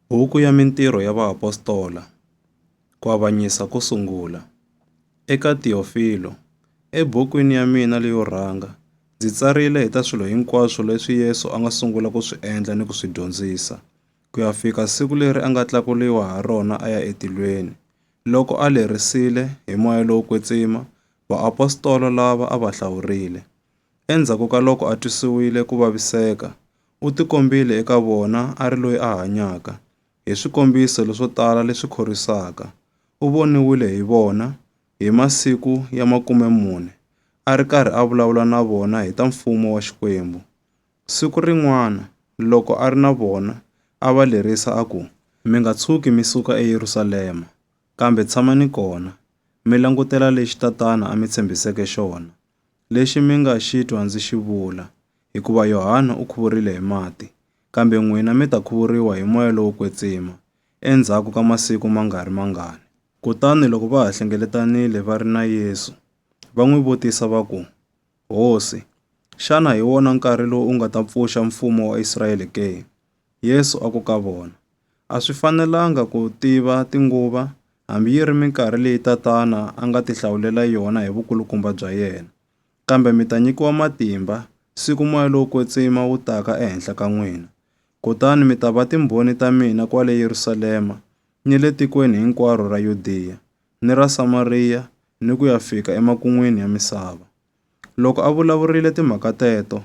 Buku ya Mintirho ya Vaapostola, Ku Avanyisa ko Sungula, Eka Tiofilo, ebukwini ya mina leyo rhanga, ndzi tsarile hi ta swilo hinkwaswo leswi Yesu a nga sungula ku swi endla ni ku swi dyondzisa, ku ya fika siku leri a nga tlakuliwa ha rona a ya etilweni. Loko a lerisile, hi moya lowo kwetsima, vaapostola lava a va hlawurile, Endzhaku ka loko a twisiwile ku vaviseka, u tikombile eka vona a ri loyi a hanyaka. Hi swikombiso leswo tala leswi khorwisaka, u voniwile hi vona hi masiku ya makume-mune a ri karhi a vulavula na vona hi ta Mfumo wa Xikwembu. Siku rin'wana loko a ri na vona, a va lerisa a ku, Mi nga tshuki mi suka eYerusalema, kambe tshamani kona, mi langutela lexi Tatana a mi tshembiseke xona. Lexi mi nga xi twa ndzi xi vula, hikuva Yohana u khuvurile hi mati, kambe n'wina mi ta khuvuriwa hi Moya lowo Kwetsima, endzhaku ka masiku ma nga ri mangani. Kutani loko va ha hlengeletanile va ri na Yesu, va n'wi vutisa va ku, Hosi, xana hi wona nkarhi lowu u nga ta pfuxa mfumo wa Israyele ke? Yesu a ku ka vona, A swi fanelanga ku tiva tinguva, hambi yi ri minkarhi leyi Tatana a nga tihlawulela yona hi vukulukumba bya yena. Kambe mi ta nyikiwa matimba, siku moya lowo kwetsima wu taka ehenhla ka n'wina. Kutani mi ta va timbhoni ta mina kwale Yerusalema, ni le tikweni hinkwaro ra Yudiya, ni ra Samariya, ni ku ya fika emakun'wini ya misava. Loko a vulavurile timhaka teto,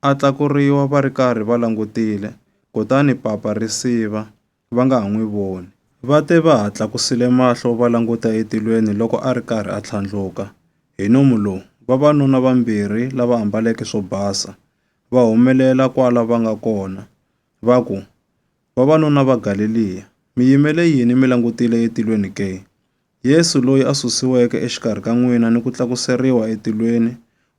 a tlakuriwa va ri karhi va langutile, kutani papa ri siva, va nga ha n'wi voni. Va te va ha tlakusile mahlo va languta etilweni loko a ri karhi a tlhandluka, hi nomu lowu, vavanuna vambirhi lava ambaleke swo basa, va humelela kwala va nga kona, va ku, Vavanuna va Galeliya, mi yimele yini mi langutile etilweni ke? Yesu loyi a susiweke exikarhi ka n'wina ni ku tlakuseriwa etilweni,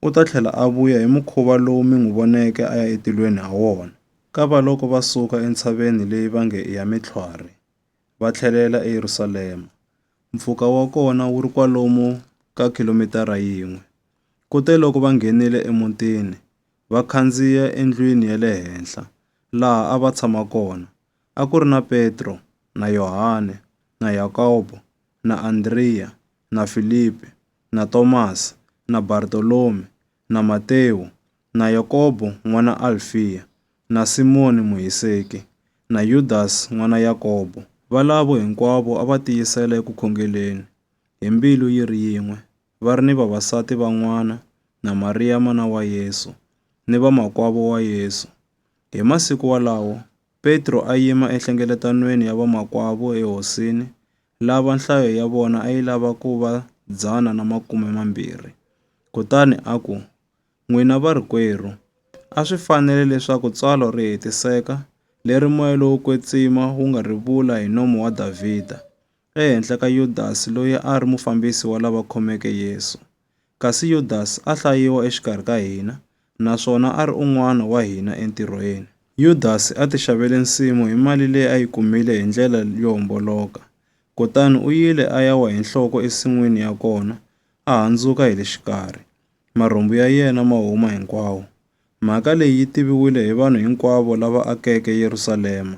u ta tlhela a vuya hi mukhuva lowu mi n'wi voneke a ya etilweni ha wona. Kavaloko va suka entshaveni leyi va nge i ya mitlhwari, va tlhelela eYerusalema. Mpfhuka wa kona wu ri kwalomu ka khilomitara yin'we. Kuteloko va nghenile emutini, va khandziya endlwini ya le henhla, laha a va tshama kona, a ku ri na Petro na Yohane na Yakobo na Andriya na Filipi na Tomasi na Bartolomi na Matewu na Yakobo n'wana Alfiya na Simoni Muhiseki na Yudasi n'wana Yakobo. Valavo hinkwavo a va tiyisela eku khongeleni hi mbilu yi ri yin'we va ri ni vavasati van'wana na Mariya mana wa Yesu ni vamakwavo wa Yesu. Hi masiku walawo Petro a yima enhlengeletanweni ya vamakwavo eHosini, lava nhlayo ya vona a yi lava ku va dzana na makume mambirhi, kutani a ku, N'wina varikwerhu, a swi fanele leswaku tsalwa ri hetiseka, leri moya lowo kwetsima wu nga ri vula hi nomo wa Davhida, ehenhla ka Yudasi loyi a a ri mufambisi wa lava khomeke Yesu. Kasi Yudas a hlayiwa exikarhi ka hina, naswona a ri un'wana wa hina entirhweni. Yudas a ti xavele nsimu hi mali leyi a yi kumile hi ndlela yo homboloka, kutani u yile a ya wa hi nhloko ensin'wini ya kona, a handzuka hi le xikarhi, marhumbu ya yena ma huma hinkwawo. Mhaka leyi yi tiviwile hi vanhu hinkwavo lava akeke Yerusalema,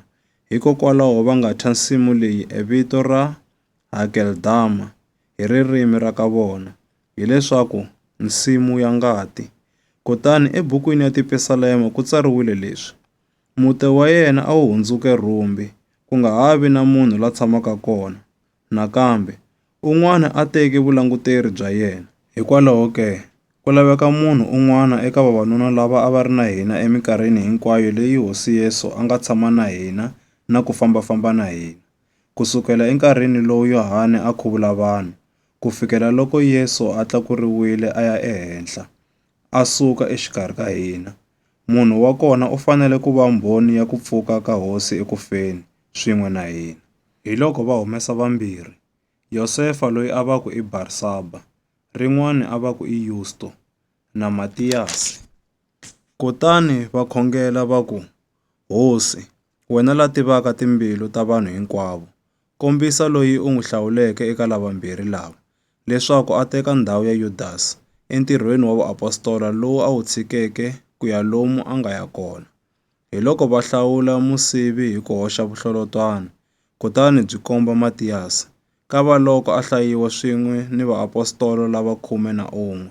hikokwalaho va nga thya nsimu leyi evito ra. Hakeldama hi ririmi ra ka vona, hi leswaku, Nsimu ya ngati. Kutani ebukwini ya Tipisalema ku tsariwile leswi, Mute wa yena a wu hundzuke rhumbi, ku nga ha vi na munhu la tshamaka kona, nakambe, un'wana a teke vulanguteri bya yena. Hikwalaho ke, ku laveka munhu un'wana eka vavanuna lava a va ri na hina eminkarhini hinkwayo leyi Hosi Yesu a nga tshama na hina na ku famba-famba na hina. Ku sukela enkarhini lowu Yohane a khuvula vanhu ku fikela loko Yesu a tlakuriwile a ya ehenhla, a suka exikarhi ka hina, munhu wa kona u fanele ku va mbhoni ya ku pfuka ka Hosi eku feni swin'we na hina. Hiloko va humesa vambirhi, Yosefa loyi a va ku i Barsaba, rin'wana a va ku i Yusto, na Matiyasi. Kutani va khongela va ku, Hosi, wena la tivaka timbilu ta vanhu hinkwavo, kombisa loyi u n'wi hlawuleke eka lavambirhi lava, leswaku a teka ndhawu ya Yudasi entirhweni wa vuapostola lowu a wu tshikeke ku ya lomu a nga ya kona. Hiloko va hlawula musivi hi ku hoxa vuhlolotwana, kutani byi komba Matiyasi, kavaloko a hlayiwa swin'we ni vaapostola lava khume na un'we.